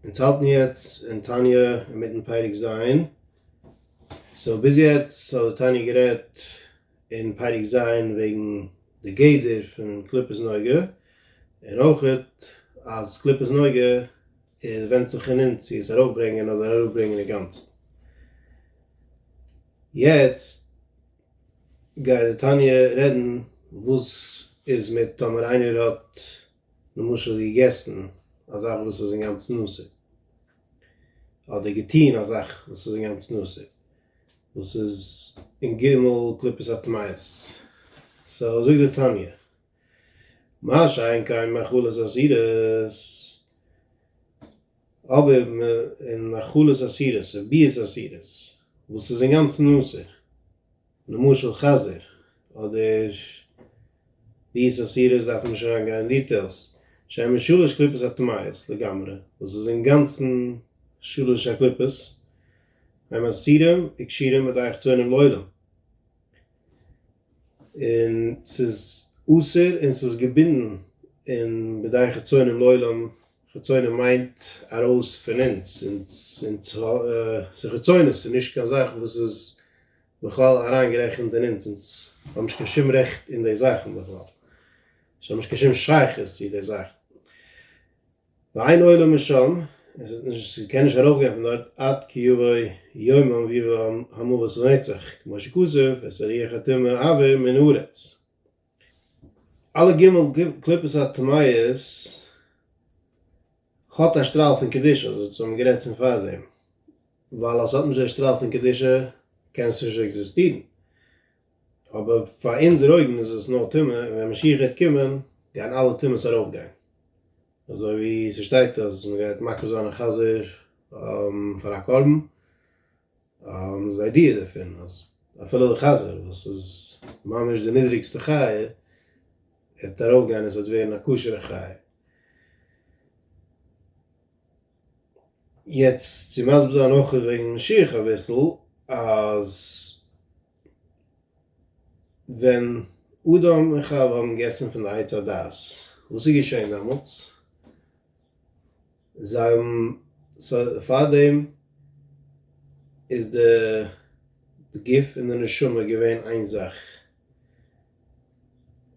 אונז האלטן יעצט אין תניא אינמיטן פרק ז', סאו ביז יעצט האט די תניא גערעדט אין פרק ז' וועגן די גדר פון קליפת נוגה, און אויכעט אז קליפת נוגה איז ווענדט זיך אין אונז צו עס ארויפברענגען אדער אראפברענגען אינגאנצן. יעצט גייט די תניא רעדן וואס איז מיט טאמער איינער האט. למשל געגעסן א זאך וואס איז אינגאנצן אסור, אדער געטון א זאך וואס איז אינגאנצן אסור, וואס איז אין ג' קליפות הטמאות, סאו זאגט די תניא, מה שאין כן מאכלות אסירות, אבער אין מאכלות אסירות און ביאות אסירות וואס איז אינגאנצן אסור, למשל חזיר, אדער ביס אסירות דארף מען נישט אריין גיין אין דיטעילס, שמן שלש קליפות הטמאות לגמרי, וואס איז אינגאנצן שלש הקליפות, הם אסירים וכשירים אדער איך טוענים לעולם, און ס'איז אסור און ס'איז געבינדן אין בדאי חיצונים לעולם, חיצונים מיינט ארויס פון אונז, אונז, אונז, ס'איז חיצונות ס'איז נישט קיין זאך וואס איז. בכלל אריינגערעכנט אין אונז, אונז האבן נישט קיין שום רעכט אין די זאכן בכלל, אונז האבן נישט קיין שום שייכות צו די זאכן, ואין עולה משם, און ס'וועט נישט, ס'קען נישט ארויפגיין פון דארט עד כי יבוא יומם ויבא המוות לנצח, כמו שכתוב את הריח הטומאה אעביר מן הארץ. אלע ג' קליפות הטמאות האט א שטראל פון קדושה, אזוי האט מען גערעדט פון פארדעם, ווייל אז ס'האט נישט די שטראל פון קדושה קען עס נישט עקזיסטירן, אבער פאר אונזער אויגן איז עס נאר טומאה, און ווען משיח גייט קומען גייען אלע טומאות ארויפגיין, אזוי ווי ס'שטייט אז מ'גייט מקריב זיין א חזיר פאר א קרבן. און די איידיע דערפון אז אפילו די חזיר וואס איז ממש די נידריגסטע חיה וועט ארויפגיין און ס'וועט ווערן א כשר'ע חיה. יעצט צו מסביר זיין אויך וועגן משיח אביסל אז ווען אדם און חוה האבן געגעסן פון די עץ הדעת וואס איז געשען דעמאלטס? זיי האבן סא פארדעם איז די גוף און די נשמה געווען איין זאך,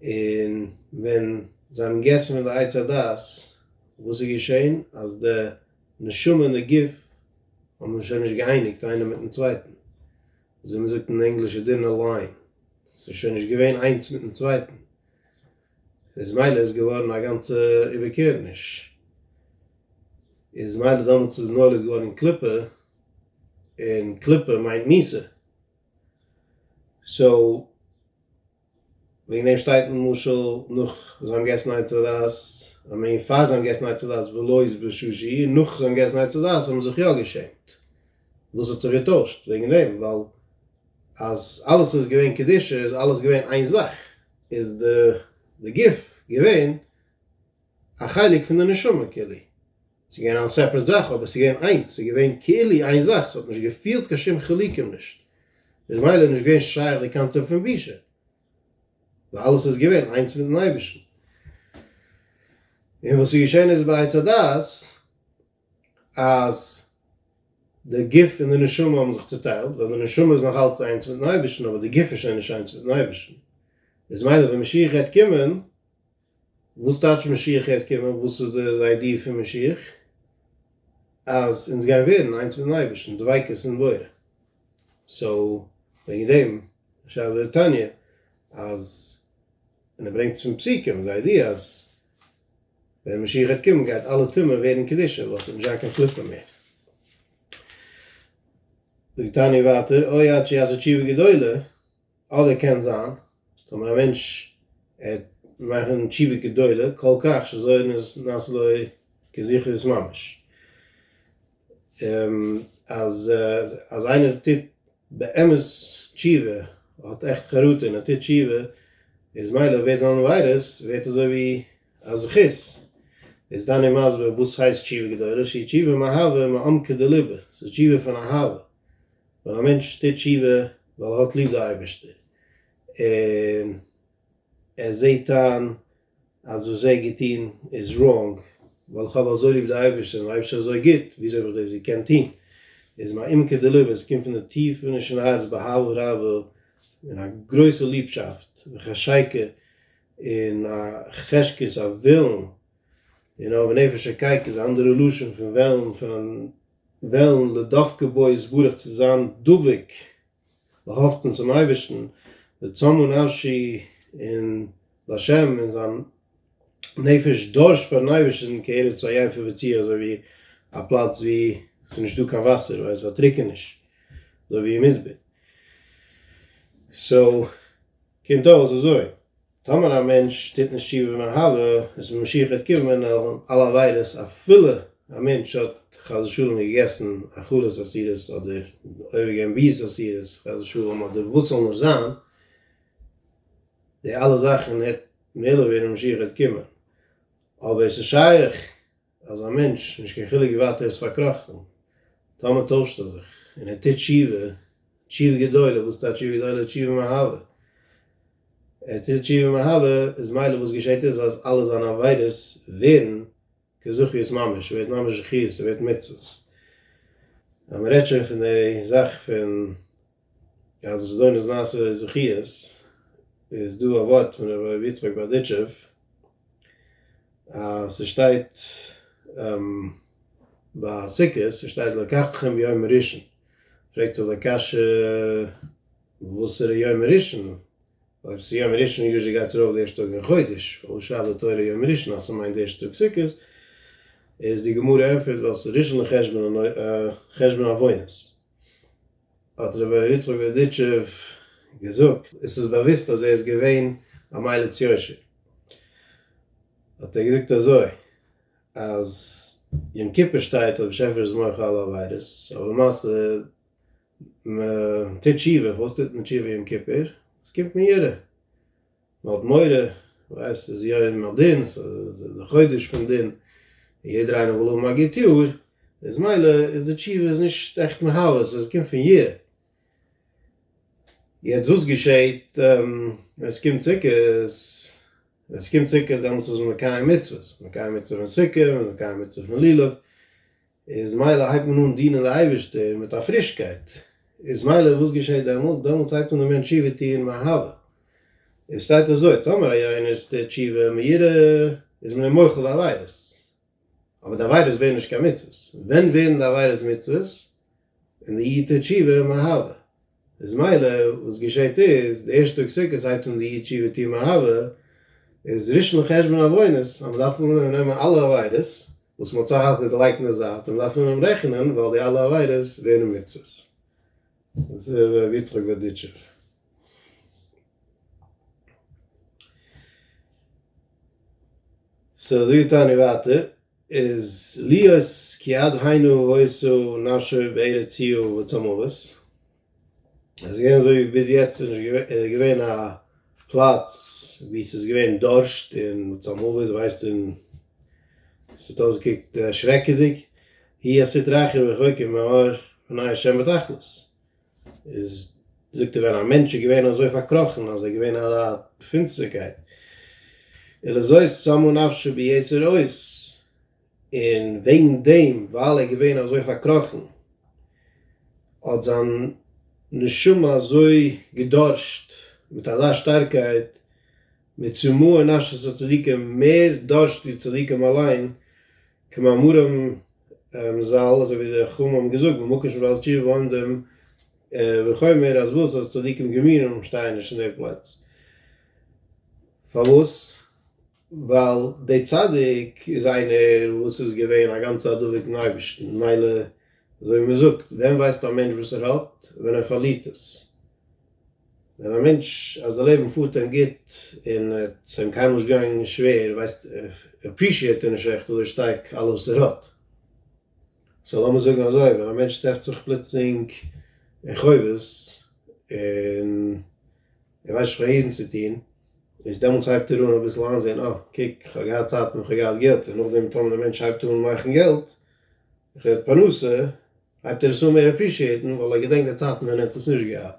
און ווען זיי האבן געגעסן פון די עץ הדעת וואס איז געשען אז די נשמה און די גוף האבן זיך שוין נישט געאייניגט איינער מיטן צווייטן, אזוי מען זאגט אין ענגליש די דינער ליין, ס'איז שוין נישט געווען איינס מיטן צווייטן. איז מילא איז געווארן א גאנצע איבערקערעניש, איז מילא דאמאלטס איז נולד געווארן קליפה, און קליפה מיינט מיסה, סאו וועגן דעם שטייט למשל נאך זיי האבן געגעסן עצי דעת, איי מין פאר זיי האבן געגעסן עצי דעת ולא איז בשושי, און נאך זיי האבן געגעסן עצי דעת האבן זיך יא געשעמט, וואס האט זיך געטוישט וועגן דעם, ווייל אז אלעס איז געווען קדושה איז אלעס געווען איין זאך. איז די גוף געווען א חלק פון די נשמה כלי, עס איז געווען אן סעפרעט זאך אבער עס איז געווען איינס, עס איז געווען כאילו איין זאך, עס האט נישט געפילט קיין שום חילוקים נישט, איז מילא נישט געווען שייך די קאנצעפט פון בושה, ווייל אלעס איז געווען איינס מיטן אייבערשטן. און וואס איז געשען איז ביי עץ הדעת, אז די גוף און די נשמה האבן זיך צוטיילט, ווייל די נשמה איז נאך אלץ איינס מיטן אייבערשטן אבער די גוף איז שוין נישט איינס מיטן אייבערשטן, איז מילא ווען משיח העט קומען, וואס טייטש משיח העט קומען, וואס איז די איידיע פון משיח? אז אונז גייען ווערן איינס מיטן אייבערשטן, דביקות אין בורא, סאו וועגן דעם שאל דער תניא אז און ער ברענגט עס פון פסוקים, די איידיע אז ווען משיח גייט קומען גייט אלע טומאה ווערן קדושה ווייל ס'וועט נישט זיין קיין קליפה מער. זאגט תניא ווייטער אוי עד שיעשה תשובה גדולה, אדער קען זיין טאמער א מענטש ער מאכן תשובה גדולה כל כך שזוהר נעשה לו כזכרות ממש אז אז איינער טוט באמת תשובה האט עכט חרטה און ער טוט תשובה איז מילא ווערט זיין עבירות ווערט אזוי ווי א זכות איז דני מסביר וואס הייסט תשובה גדולה שהיא תשובה מאהבה מעמקי דליבה ס'איז תשובה פון אהבה ווען א מענטש טוט תשובה ווייל ער האט ליב די אייבערשטער און ער זעהט איין אז וואס ער האט געטון איז ראנג, ווייל איך האב אזוי ליב די אייבערשטער און די אייבערשטער איז אזוי גוט, וויאזוי האב איך דאס געקענט טון? איז מעומקא דליבא, עס קומט פון די טיף אינערשטן הארץ באהבה רבה, און א גרויסע ליבשאפט וחשיקה, און א חשקות א ווילן, און אויב נפש קייק איז א אנדערע לשון פון וועלן, פון וועלן לדבקה בו יתברך צו זיין דבוק באהאפטן צום אייבערשטן וצמאו נפשי און לה' און זיין נפש דורשט פארן אייבערשטן כארץ עייפה וצי אזוי ווי א פלאץ ווי ס'איז נישט דא קיין וואסער ווייל ס'האט טרוקעניש אזוי ווי אין מדבר סאו קומט אויס אזוי טאמער א מענטש טוט נישט תשובה במהרה, איז מען משיח את קיבו מן אלע עבירות, אפילו א מענטש האט חס ושלום געגעסן א חלות אסירות, אדער אויבערגעבן ביאות אסירות חס ושלום, אדער וואס זאל נאר זיין, די אלע זאכן וועט מעלה ווערן משיח את קיבו, אבער עס איז שייך. אז א מענטש, נישט קיין חילוק ווי ווייט ער איז פארקראכן, טאמער טוישט ער זיך און ער טוט תשובה, תשובה גדולה, וואס איז די תשובה גדולה? תשובה מאהבה, ער טוט תשובה מאהבה, איז מילא וואס געשעט איז אז אלע זיינע עבירות ווערן כזכיות ממש, ער ווערט ממש זכיות, ער ווערט מצוות, אז מען רעדט שוין פון די זאך פון אז עס איז דא נזנז זכיות איז דא א ווארט פון ר' לוי יצחק בארדיטשוב אז ס'שטייט ביי סוכות ס'שטייט לקחתכם יום ראשון פרעגט זיך די קשיא וואסערע יום ראשון אויב ס'איז יום ראשון יוזשעלי גייט עס ארויף די ערשטע טאג אין חודש אויב שרייבט די תורה יום ראשון אז ס'מיינט די ערשטע טאג סוכות איז די גמרא ענפערט ווייל ס'איז ראשון לחשבון חשבון עוונות האט ר' יצחק בערדיטשוב געזאגט, עס איז באוויסט אז ער איז געווען א מליץ יושר, האט ער געזאגט אזוי, אז יום כיפור שטייט אויב באשעפער איז מוחל על עבירות, אבער למעשה מען טוט תשובה, פארוואס טוט מען תשובה יום כיפור? עס קומט מיראה. מ'האט מורא, ווייסט ס'איז יום הדין, ס'איז די חודש פון דין, יעדער איינער וויל האבן א גוט יאר, איז מילא איז די תשובה איז נישט עכט מהווה, ס'איז קומט פון יראה. יעצט וואס געשעהט ווען ס'קומט סוכות, ווען ס'קומט סוכות דעמאלטס איז מען מקיים מצוות, מקיים מצוה פון סוכה, מקיים מצוה פון לולב, איז מילא הייבט מען אן דינען די אייבערשטער מיט א פרישקייט, איז מילא וואס געשעט דעמאלטס, דעמאלטס הייבט אן די מענטש תשובה טוען מאהבה, עס שטייט אזוי טאמער א יונש טוט תשובה מהירה איז מען אים מוחל די עבירות, אבער די עבירות ווערן נישט קיין מצוות, ווען ווערן די עבירות מצוות? ווען די איד טוט תשובה מאהבה, איז מילא, וואס געשעהט איז, די ערשטע טאג סוכות הייבט אן די איד שבעה טעם אהבה, איז ראשון לחשבון עוונות, אז מען דארף אנהויבן נעמען אלע עבירות, וואס מען האט סך הכל געלייגט אין די זייט, און מען דארף אנהויבן רעכענען, ווייל די אלע עבירות ווערן מצוות. דאס איז ר' יצחק בערדיטשוב. סאו אזוי טענה איך ווייטער. איז להיות כיד היינו הוישו נפשו בערציו וצמאוות איז געווען אזוי ווי ביז יעצט איז נישט געווען א פלאץ ווי ס'איז געווען דארשט און צמאוות ווייסט און ס'האט אויסגעקוקט שרעקעדיג היא הסית רחם וחוקר מאור פני השם בתכלית. איז זאגט ער ווען א מענטש איז געווען אזוי פארקראכן אז ער איז געווען א פינסטערקייט אלא זאת צמאה נפשו ביסוד אויס און וועגן דעם ווייל ער איז געווען אזוי פארקראכן האט זיין נשמה אזוי געדארשט מיט אזא שטארקייט מצמאה נפשו צדיקים מער דארשט ווי צדיקים אליין כמאמרם זל, אזוי ווי די חכמים האבן געזאגט במקום שבא על תשובה עומדים, ווי חומר אז וואס אז צדיקים גמורים שטייען נישט אין די פלעץ, פארוואס? ווייל די צדיק איז איינער וואס איז געווען א גאנצע א דבוק אין אייבערשטן, ממילא אזוי ווי מען זאגט, ווען ווייסט א מענטש וואס ער האט? ווען ער פארלירט עס. ווען א מענטש אז די לעבן פארט אים גוט און עס איז אים קיינמאל נישט געגאנגען שווער ווייסט ער עפרישיעט ער נישט עכט אזוי שטארק אלעס וואס ער האט, סא לאמיר זאגן אזוי ווען א מענטש טרעפט זיך פלוצלינג אין חובות און ער ווייסט נישט וואיאן צו טון איז דעמאלטס הייבט ער אן אביסל איינזעהן אה קוק איך האב געהאט צייטן איך האב געהאט געלט און נאכדעם טאמער די מענטש הייבט אן מאכן געלט כ'רעד פרנסה, הייבט ער עס אן מער אפרישיעטן ווייל ער געדענקט די צייטן ווען ער האט עס נישט געהאט,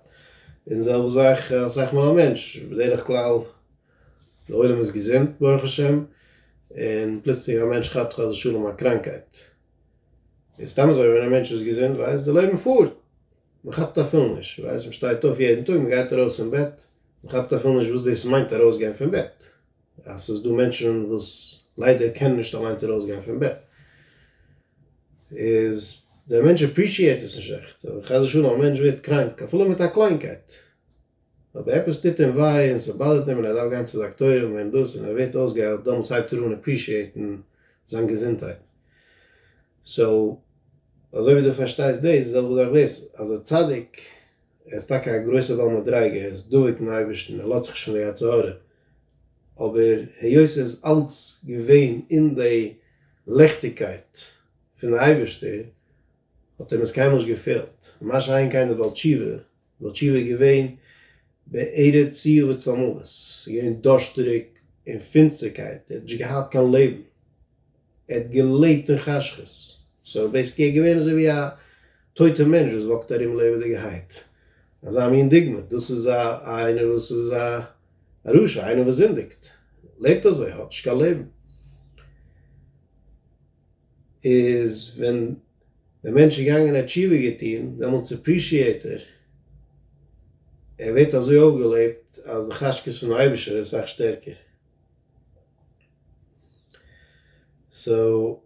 און זעלבע זאך אסאך מאל א מענטש, בדרך כלל די עולם איז געזונט ברוך השם, און פלוצלינג א מענטש כאפט חס ושלום א קראנקייט, איז סתם אזוי ווען א מענטש איז געזונט ווייסט די לעבן פארט, מען כאפט אפילו נישט, ווייסט מען שטייט אויף יעדן טאג, מען גייט ארויס פון בעט, מען כאפט אפילו נישט וואס דאס מיינט ארויסגיין פון בעט. אז ס'איז דא מענטשן וואס ליידער קענען נישט אליינס ארויסגיין פון בעט, איז דער מענטש אפרישיעט עס נישט עכט, אבער חס ושלום א מענטש ווערט קראנק אפילו מיט א קליינקייט, אויב עפעס טוט אים וויי און ס'באדערט אים און ער דארף גיין צו דאקטוירים און דאס און ער ווערט אויסגעהיילט, דאמאלס הייבט ער אן אפרישיעטן זיין געזונטהייט. סאו אזוי ווי דו פארשטייסט דאס, די זעלבע זאך דאס, אז א צדיק ער איז טאקע א גרויסער בעל מדריגה, ער איז דבוק אין אייבערשטן, ער לאזט זיך נישט פון די יצר הרע, אבער היות ער איז אלץ געווען אין די ליכטיגקייט פון די אייבערשטער, האט אים עס קיינמאל נישט געפעלט, מה שאין כן די בעל תשובה, בעל תשובה איז געווען בערת צער וצלמוות, עס איז געווען דארשטעריג און פינסטערקייט, ער האט נישט געהאט קיין לעבן. ער האט געלעבט אין חשכות, סאו בעיסיקלי ער איז געווען אזוי ווי א טויטע מענטש וואס וואקט ארום לעבעדיגערהייט, אזא מין דוגמא, דאס איז א איינער וואס איז א רשע, איינער וואס זינדיגט, לעבט אזוי, האט נישט קיין לעבן. איז ווען דער מענטש איז געגאנגען ער האט תשובה געטון, דעמאלטס עפרישיעט ער, ער ווערט אזוי אויפגעלעבט אז די חשקות פונעם אייבערשטער ווערט אסאך שטערקער. סאו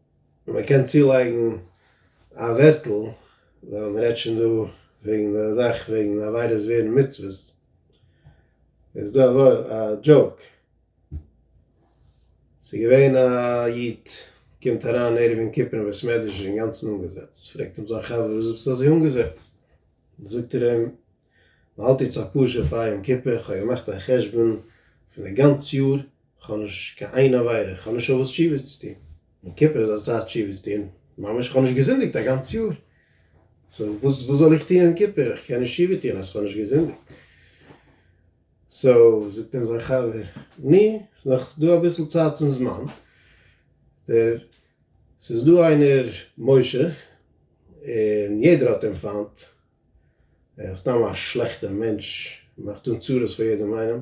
מען קען צולייגן א ווערטל ווייל מען רעדט שוין דא וועגן די זאך וועגן עבירות ווערן מצוות איז דא א דזשאוק ס'איז געווען א איד קומט אריין ערב יום כיפור אין בית מדרש אינגאנצן אנגעזעצט פרעגט אים זיין חבר וואס ביסטו אזוי אנגעזעצט זאגט ער אים מ'האלט איצט א פרשה פאר יום כיפור, כ'האב געמאכט א חשבון פון די גאנץ יאר, כ'האב נישט קיין איין עבירה, כ'האב נישט אויף וואס תשובה צו טון, יום כיפור איז א צייט תשובה צו טון, ממש כ'האב נישט געזינדיגט א גאנץ יאר, סאו וואס וואס זאל איך טון יום כיפור, איך קען נישט תשובה טון אז כ'האב נישט געזינדיגט, סאו זאגט אים זיין חבר, נו, ס'איז נאך דא אביסל צייט צום זמן, דער, ס'איז דא איינער משה, און יעדער האט אים פיינט, ער איז סתם א שלעכטער מענטש, מאכט אן צרות פאר יעדעם איינעם,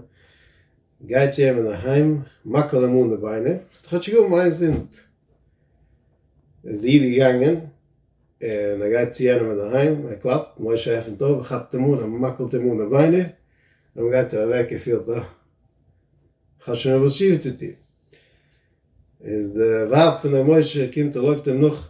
גיי צו אים אינדערהיים, מאקל אים אן די ביינער, זאלסטו כאטשיג האבן איין זינד. איז דער איד געגאנגען, און ער גייט צו יענעם אינדערהיים, ער קלאפט, משה עפנט אויף, ער כאפט אים אן, ער מאקלט אים אן די ביינער, דערנאך גייט ער אוועק, ער פילט אה, כ'האב שוין עפעס שיף צו טון. איז די ווייב פון דעם משה קומט און לויפט אים נאך,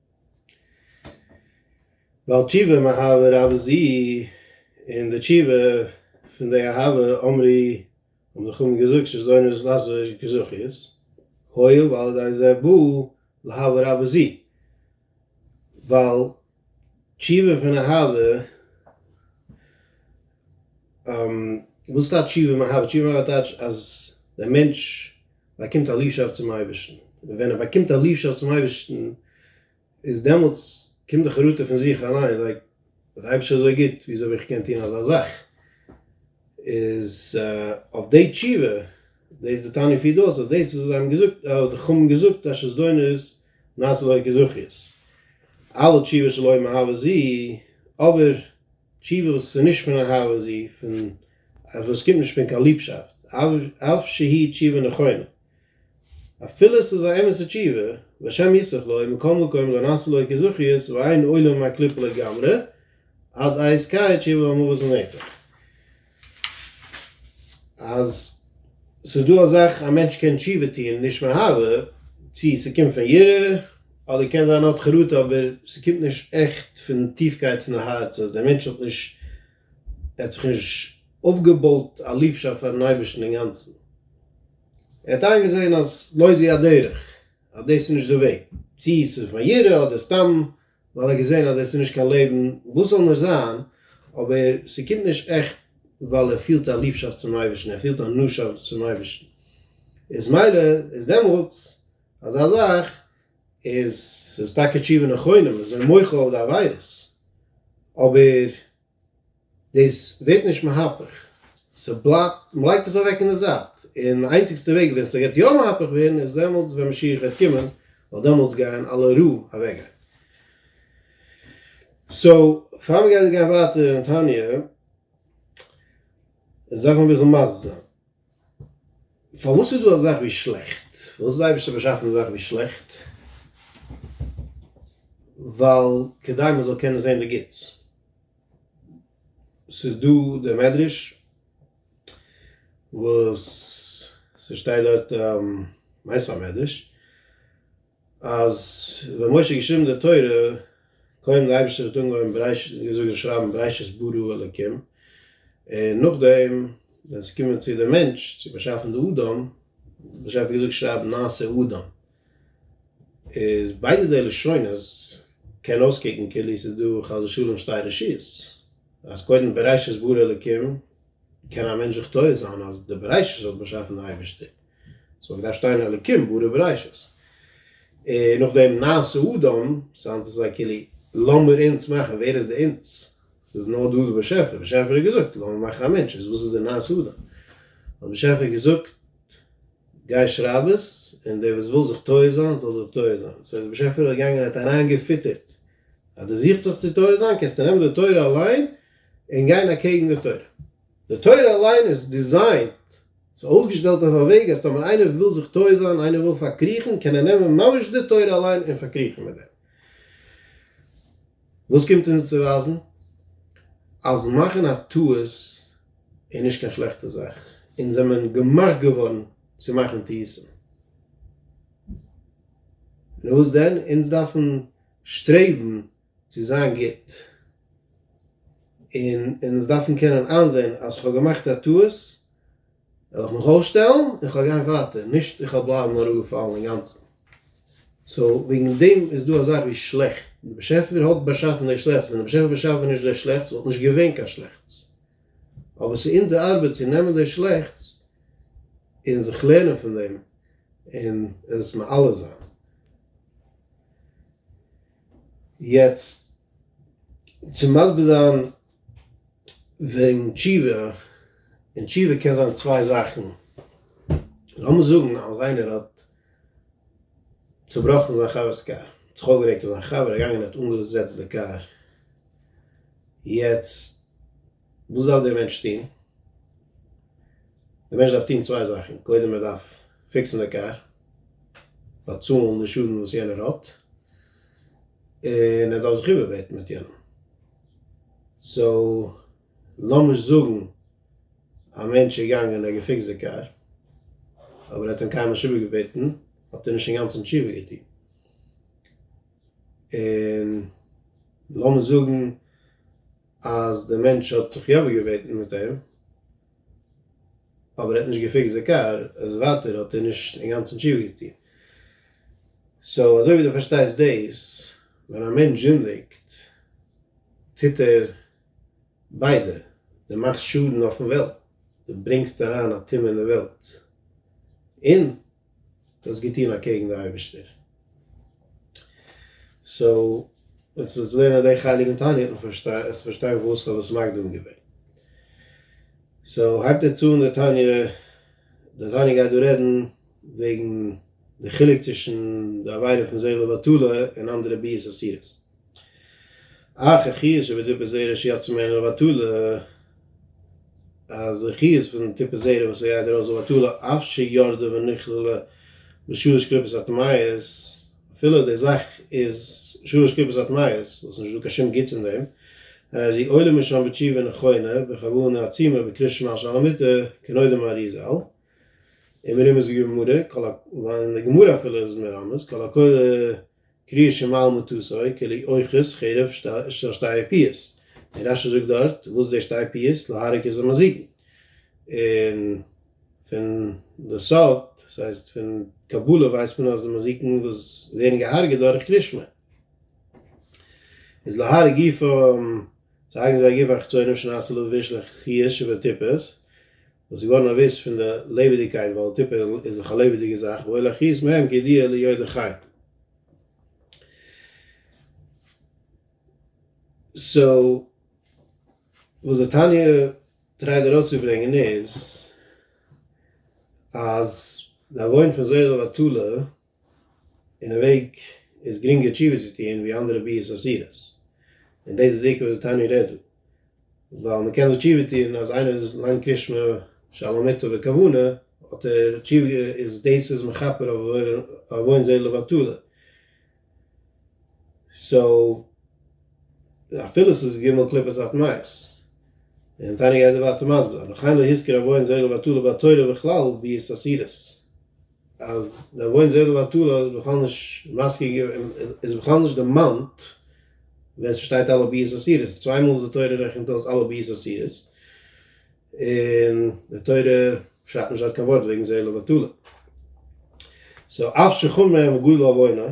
בעל תשובה מאהבה רבה זי ע, און די תשובה פון די אהבה אמרי האבן די חכמים געזאגט שזונות לאסור כזכות, הואיל ועל ידי זה בא לאהבה רבה זי ע, ווייל תשובה פון אהבה, וואס טייטש תשובה מאהבה? תשובה מאהבה טייטש אז דער מענטש באקומט א ליבשאפט צום אייבערשטן, און ווען ער באקומט א ליבשאפט צום אייבערשטן, איז דעמאלטס קומט די חרטה פון זיך אליין, לייק, דער אייבערשטער איז אזוי גוט, וויאזוי האב איך געקענט טון אזא זאך? איז אויף די תשובה, דאס איז די תניא פירט אויס אז דאס איז האבן געזאגט, האט די חכמים געזאגט אז שזדונות נעשה לויט געזוכיות, אלא תשובה שלא מאהבה זי', אבער. תשובה וואס איז נישט פון אהבה זי פון וואס קומט נישט פון קיין ליבשאפט אף שהיא תשובה נכונה אפילו עס איז א אמת'ע תשובה והשם יסלח לו מכל מקום לא נעשה לו כזכיות ואין עולה מהקליפה לגמרי עד איז קאי תשובה המבוז לנצח. אז ס'איז דא א זאך א מענטש קען תשובה טוהן נישט מאהבה, צו ס'קומט פון יראה אדער קען זיין אות חרטה אבער ס'קומט נישט עכט פון טיפקייט פון הארץ אז דער מענטש האט נישט ער האט זיך נישט אויפגעבויט א ליבשאפט פארן אייבערשטן אינגאנצן, ער האט איינגעזעהן אז לא זו הדרך אז דאס איז נישט די וועג, צו ס'איז פון יראה אדער סתם ווייל ער האט געזען אז עס איז נישט קיין לעבן, וואס זאל נישט זיין, אבער ס'קומט נישט עכט ווייל ער פילט א ליבשאפט צום אייבערשטן, ער פילט א נאשאפט צום אייבערשטן, איז מילא איז דעמאלטס אזא זאך איז ס'איז טאקע תשובה נכונה, מ'איז מוחל אויף די עבירות, אבער. דאס ווערט נישט מהפך, ס'בלייבט, מ'לייגט עס אוועק אין די זייט, און די איינציגסטע וועג ווען ס'גייט יא מהפך ווערן איז דעמאלטס ווען משיח וועט קומען, ווייל דעמאלטס גייען אלע ר' אוועקגיין. סאו, פאר מ'גייט גיין ווייטער אין תניא, דארף מען אביסל מסביר זיין. פארוואס איז דא א זאך ווי שלעכט? פארוואס האט די אייבערשטער באשאפן די זאך ווי שלעכט? ווייל כדי מען זאל קענען זען די גוטס. ס'איז דא די מדרש וואס ס'שטייט דארט, כ'מיין ס'איז א מדרש, אז ווען משה האט געשריבן די תורה, קודם די אייבערשטער האט אנגעהויבן ברעש געזאגט און שרייבן בראשית ברא אלקים, און נאכדעם ווען עס איז געקומען צו די מענטש צו באשאפן די אדם, האט באשעפער געזאגט שרייב נעשה אדם, איז ביידע די לשונות קען אויסקוקן כאילו עס איז דא חס ושלום שתי רשויות, אז קודם בראשית ברא אלקים, קען א מענטש זיך טועה זיין אז די בראשית האט באשאפן די אייבערשטער. סאו מ'דארף שטיין אלקים ברא בראשית, און נאכדעם נעשה אדם, סאו היינט איז זיי כאילו לאמיר אונז מאכן, ווער איז די אונז? ס'איז נאר דא די באשעפער, באשעפער האט געזאגט לאמיר מאכן א מענטש, איז וואס איז די נעשה אדם? האט באשעפער געזאגט גיי שרייב עס, און דער וואס וויל זיך טועה זיין זאל זיך טועה זיין, סאו איז באשעפער געגאנגען האט אריין געפיטערט אז דו זוכסט זיך צו טועה זיין קענסטו נעמען די תורה אליין און גיין אקעגן די תורה. די תורה אליין איז דיזיינט, ס'איז אויסגעשטעלט אויף א וועג אז טאמער איינער וויל זיך טועה זיין, איינער וויל פארקריכן, קען ער נעמען ממש די תורה אליין און פארקריכן מיט דעם. וואס קומט אונז צו ווייזן? אז מאכן א טעות איז נישט קיין שלעכטע זאך, אונז זעמען געמאכט געווארן צו מאכן טעותים. נו וואס דען? אונז דארפן שטרעבן. צו זיין גוט, און אונז דארפן קענען איינזעהן אז כ'האב געמאכט א טעות, וועל איך מיך אויסשטעלן און כ'וועל גיין ווייטער, נישט איך וועל בלייבן אראפגעפאלן אינגאנצן. סאו וועגן דעם איז דא א זאך ווי שלעכט, דער באשעפער האט באשאפן דער שלעכטס, ווען דער באשעפער באשאף ווען נישט דער שלעכטס וואלט נישט געווען קיין שלעכטס, אבער ס'איז אונזער ארבעט צו נעמען דער שלעכטס און זיך לערנען פון דעם און עס מעלה זיין. יעצט צו מסביר זיין וועגן תשובה, און תשובה קען זיין צוויי זאכן, לאמיר זאגן אז איינער האט צובראכן זיין חבר'ס קאר, האט זיך אויפגערעגט אויף זיין חבר, געגאנגען האט אנגעזעצט די קאר, יעצט וואס דארף דער מענטש טון? דער מענטש דארף טון צוויי זאכן, קודם ער דארף פיקסן די קאר, באצאלן די שאדן וואס יענער האט, און ער דארף זיך איבערבעטן מיט יענעם. סאו לאמיך זאגן א מענטש איז געגאנגען ער האט געפיקסט די קאר, אבער ער האט אים קיינמאל נישט איבערגעבעטן, האט ער נישט אינגאנצן תשובה געטון. און לאמיך זאגן. אז דער מענטש האט זיך יא באגעבעטן מיט אים אבער ער האט נישט געפיקסט די קאר איז ווייטער האט ער נישט אינגאנצן תשובה געטון. סאו אזוי ווי דו פארשטייסט דאס ווען א מענטש זינדיגט טוט ער ביידע דו מאכסט שאדן אויפן וועלט דו ברענגסט אריין א טומאה אין די וועלט און דו האסט געטון אקעגן די אייבערשטער. סאו ווען ס'איז געווען אט די חלק אין תענית האט מען פארשטיין האסטו פארשטיין פארוואס איך האב דאס מקדים געווען. סאו הייבט ער צו אן די תניא, די תניא גייט דא רעדן וועגן די חילוק צווישן די עבירה פון זעהל לבטלה און אנדערע ביאות אסירות. אה, כ'הער שוין ווי די טיפע זערא שיעט צו מערן לבטלה, אז איך הער פון די טיפע זערא וואס ער גייט ארויס לבטלה אף שירדה ונכללה בשלש קליפות הטמאות, אפילו די זאך איז שלש קליפות הטמאות, וואס נישטא קיין שום גוטס אין דעם, און אז אי עולה משם בתשובה נכונה בכוונה עצימה בקריאת שמע שעל המיטה כנודע מהרי ז און מרומז גמרא, און די גמרא אפילו איז מרמז, קול הקורא, קריעה של מעל מטוסו כלי אוחז חרב של שתי פיאות, און רש י זאגט דארט וואס איז די שתי פיאות להרוג איז ומזיקין, און פון די סוד דאס הייסט פון קבלה ווייסט מען אז די מזיקין וואס ווערן געהארגעט דורך קרישמע איז להרוג גופם צו הרגן זייער גוף אחצונים שנעשה לו וישלך חי' שבטיפות, וואס איז געווארן אביס פון די לעבעדיגקייט ווייל טיפעל איז דאך א לעבעדיגע זאך ואוי לאחית מהם כי דיעה ליו די חי סאו וואס די תניא טרייט ארויס צו ברענגען איז אז די עוון פון זרע בטלה אין א וועג איז גרינגער תשובה צו טוהן ווי אנדערע ביאות אסירות, און דאס איז די עיקר וואס די תניא רעדט דא, ווייל מען קען דא תשובה טוהן אז איינער איז לאנג קרישמע שעל המיתה בכוונה האט ער תשובה איז דאס איז מכפר אויף עוון זה לבטלה, סאו אפילו ס'איז ג' קליפות אויף מייז, און תניא גייט דא ווייטער מסביר זיין, וכן להזכיר עוון זה לבטלה בתורה בכלל ביאות אסירות. אז דער וואוינט זעלער ביי טאלער איז בכלל נישט מזכיר געווען, איז בכלל נישט דערמאנט ווען ס'שטייט אלע ביאות אסירות, צוויי מאל איז די תורה רעכנט אויס אלע ביאות אסירות, און די תורה שרייבט נישט דארט קיין ווארט וועגן זעלער ביי טאלער. סאו אף שחומר מגודל עווינוה.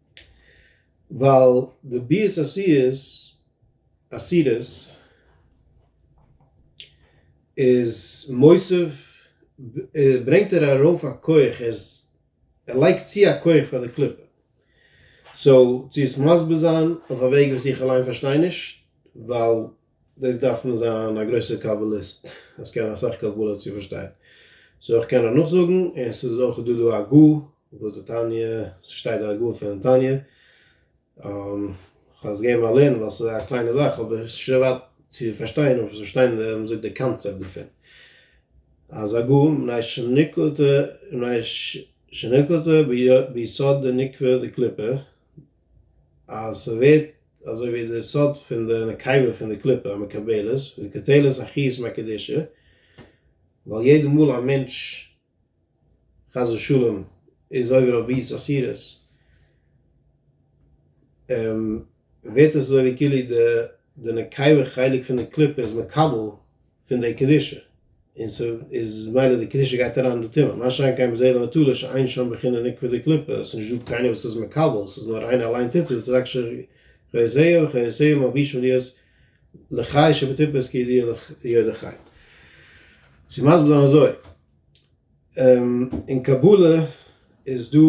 ווייל די ביאות אסירות אסירות איז מוסיף ברענגט ער ארויף א כח ער לייגט צו א כח פאר די קליפה סאו צו עס מסביר זיין אויף א וועג וואס איך אליין פארשטיי נישט ווייל דאס דארף מען זיין א גרויסער קבלה'יסט אז קענען אסאך קבלה צו פארשטיין, סאו איך קען נאכזאגן, און ס'איז אויך דא דא א גא וואס די תניא ס'שטייט דא א גא פון תניא, כ'האב עס געבן א לערן ווייל ס'איז א קליינע זאך אבער ס'איז שוין ווייט צו פארשטיין אבער פארשטיין די וואס מ'זאגט די קאנצעפט דערפון אז א גא מנין שנקלטה מנין שנקלטה ביסוד דניקבע דקליפה אז ס'ווערט אזוי ווי די סוד פון די נקבה פון די קליפה המקבלת וקוטלת החי' ס'איז א קדושה ווייל יעדע מאל א מענטש חס ושלום איז עובר אויף ביס אסירות ווערט עס אזוי ווי כאילו די נקבה חלק פון די קליפה איז מקבל פון די קדושה, און ס'איז מילא די קדושה גייט אריין אין די טומאה, מה שאין כן בזה לבטלה שאין שם בחינה נקבע דקליפה, עס איז נישט דא קיינער וואס איז מקבל, עס איז נאר איינער אליין טוט עס, רק שחיות היה וחיות היו מלבישים להיות לחי שבטיפות כידיעה ליודע חי. צו מסביר זיין אזוי. אין קבלה איז דא,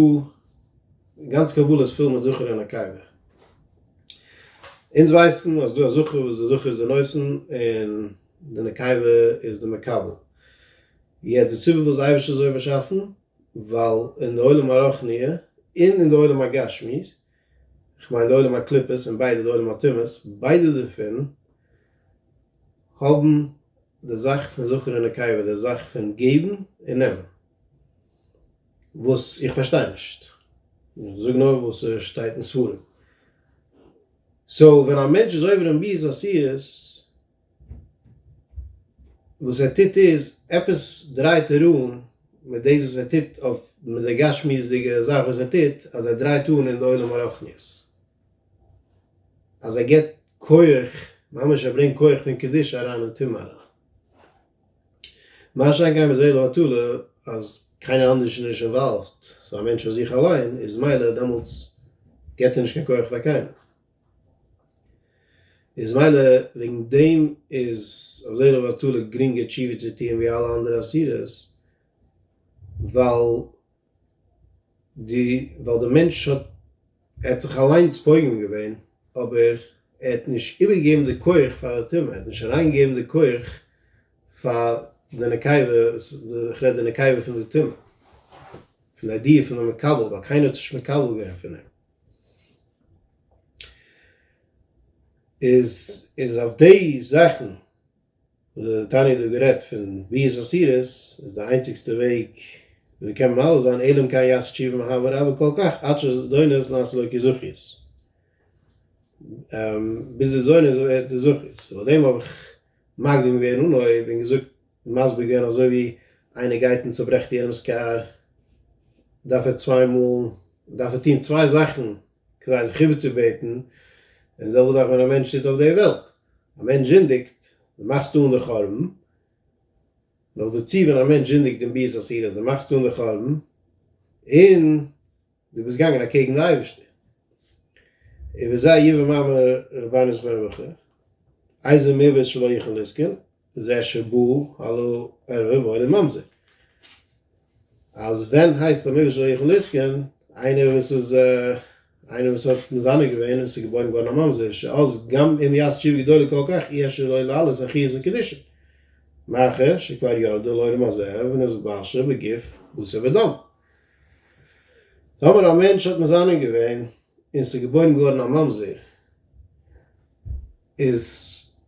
גאנץ קבלה איז פול מיט זכר און נקבה, אונז ווייסן אז דא א זכר וואס די זכר איז די נושא און די נקבה איז די מקבל, יעצט די סיבה פארוואס די אייבערשטער האט אזוי באשאפן, ווייל אין די עולם הרוחני און אין די עולם הגשמי כ'מיין די עולם הקליפות און ביידע די עולם הטומאות, ביידע דערפון האבן די זאך פון זכר און נקבה, די זאך פון געבן און נעמען, וואס איך פארשטיי נישט, איך זאג נאר וואס ס'שטייט אין ספרים, סאו ווען א מענטש איז עובר אין ביז עשירות, וואס ער טוט איז, עפעס דרייט ער אן מיט דאס וואס ער טוט אויף מיט די גשמיות'דיגע זאך וואס ער טוט, אז ער דרייט אן אין די עולם הרוחניות, אז ער גיבט כח, ממש ער ברענגט כח פון קדושה אריין אין טומאה אריין. מה שאין כן ביי זעלא בטלה, אז קיינער אנדערש איז נישט אינוואלווד, ס'איז א מענטש פאר זיך אליין, איז מילא דעמאלטס גיבט ער נישט קיין כח פאר קיינעם. איז מילא וועגן דעם איז אזוי לבטלה גרינגער תשובה צו טוען ווי אלע אנדערע עשירות, ווייל ווייל די מענטש האט ער האט זיך אליינס פוגם געווען אבער ער האט נישט איבערגעגעבן די כח פאר די טומאה, ער האט נישט אריינגעגעבן די כח פאר די נקבה, איך רעד די נקבה פון די טומאה, פון די ידיעה פון די מקבל, ווייל קיינער האט זיך נישט מקבל געווען פון אים. איז איז אויף די זאכן וואס די תניא האט דא גערעדט פון ביאות אסירות איז די איינציגסטע וועג ווי מען קען ממלא זיין אלא אם כן יעשה תשובה מהבא רבא כל כך עד שזדונות נעשה לו כזכיות ביז די זונות ווערט די זכיות און פאר דעם האב איך מקדים געווען אנהויב און געזאגט מסביר געווען אזוי ווי איינער גייט און צוברעכט יענעמס קאר דארף ער צוויי מאל דארף ער טון צוויי זאכן כדי זיך איבערצובעטן, און זעלבע זאך ווען א מענטש טוט אויף די וועלט, א מענטש זינדיגט די מאכסט אן די חורבן, נאכדערצו ווען א מענטש זינדיגט און ביזט אסיר אז די מאכסט אן די חורבן, און. דו ביסט געגאנגען אקעגן די אייבערשטער. און ווי זיי יבא מאמר רבינו זכרונו לברכה, איזה מעוות שלא יכל לזקן, זה שבא הלא ערבה ואינו ממזיק. אז ווען הייסט א מעוות שלא יכל לזקן, איינער וואס איז איינער וואס האט מזנה געווען און ס'איז געבוירן געווארן א ממזר, שאז גם אם יעש תשובה גדולה כל כך, אי אפשר לו לעלות על חיית הקדושה. מאחר שכבר ירדה לעולם הזה ונזבשה בגוף בשר ודם. טאמער א מענטש האט מזנה געווען און ס'איז געבוירן געווארן א ממזר, איז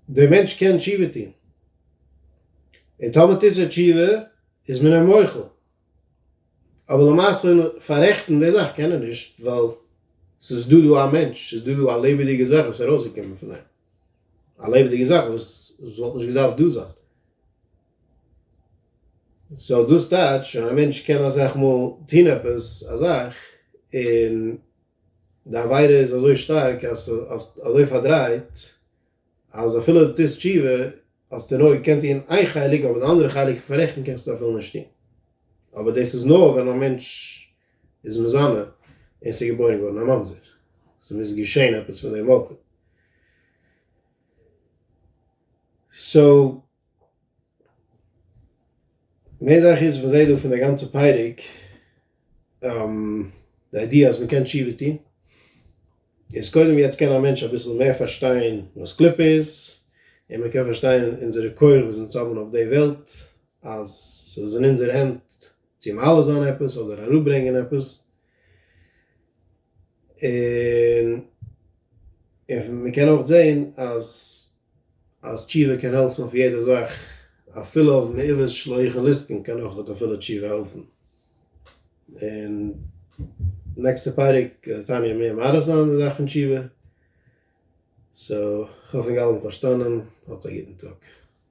דער מענטש קען תשובה טון, און טאמער טוט ער תשובה איז מען אים מוחל, אבער למעשה פאררעכטן די זאך קען ער נישט, ווייל ס'איז דא דא א מענטש, ס'איז דא דא א לעבעדיגע זאך וואס איז ארויסגעקומען פון אים, א לעבעדיגע זאך וואס וואלט נישט געדארפט דא זיין. סאו דאס טייטש ווען א מענטש קען אסאך מאל טון עפעס א זאך און די עבירה איז אזוי שטארק אז ס'האסט אזוי פארדרייט אז אפילו די טוסט תשובה האסטו נאר געקענט טון איין חלק אבער די אנדערע חלק פון פאררעכטן קענסטו אפילו נישט טון אבער דאס איז נאר ווען א מענטש איז מזנה און ס'איז געבוירן געווארן א ממזר ס'מוז געשען עפעס פון דעם מקום סאו מער זאך איז מ'זעהט דא פון די גאנצע פרק די איידיע אז מ'קען תשובה טון איז קודם יעצט קען א מענטש אביסל מער פארשטיין וואס קליפה איז און מ'קען פארשטיין אונזערע כח וואס אונז האבן אויף די וועלט אז ס'איז אין אונזערע הענט צו מעלה זיין עפעס אדער אראפברענגען עפעס און און מ'קען אויך זעהן אז אז תשובה קען העלפן אויף יעדע זאך, אפילו אויף מעוברת שלוחן ליסטן קען אויך אט אפילו תשובה העלפן. און נעקסטע פרק וועט תניא מער מאריך זיין אין די זאך פון תשובה. סאו כ'האף ענק אלע האבן פארשטאנען. האטס א גוטן טאג.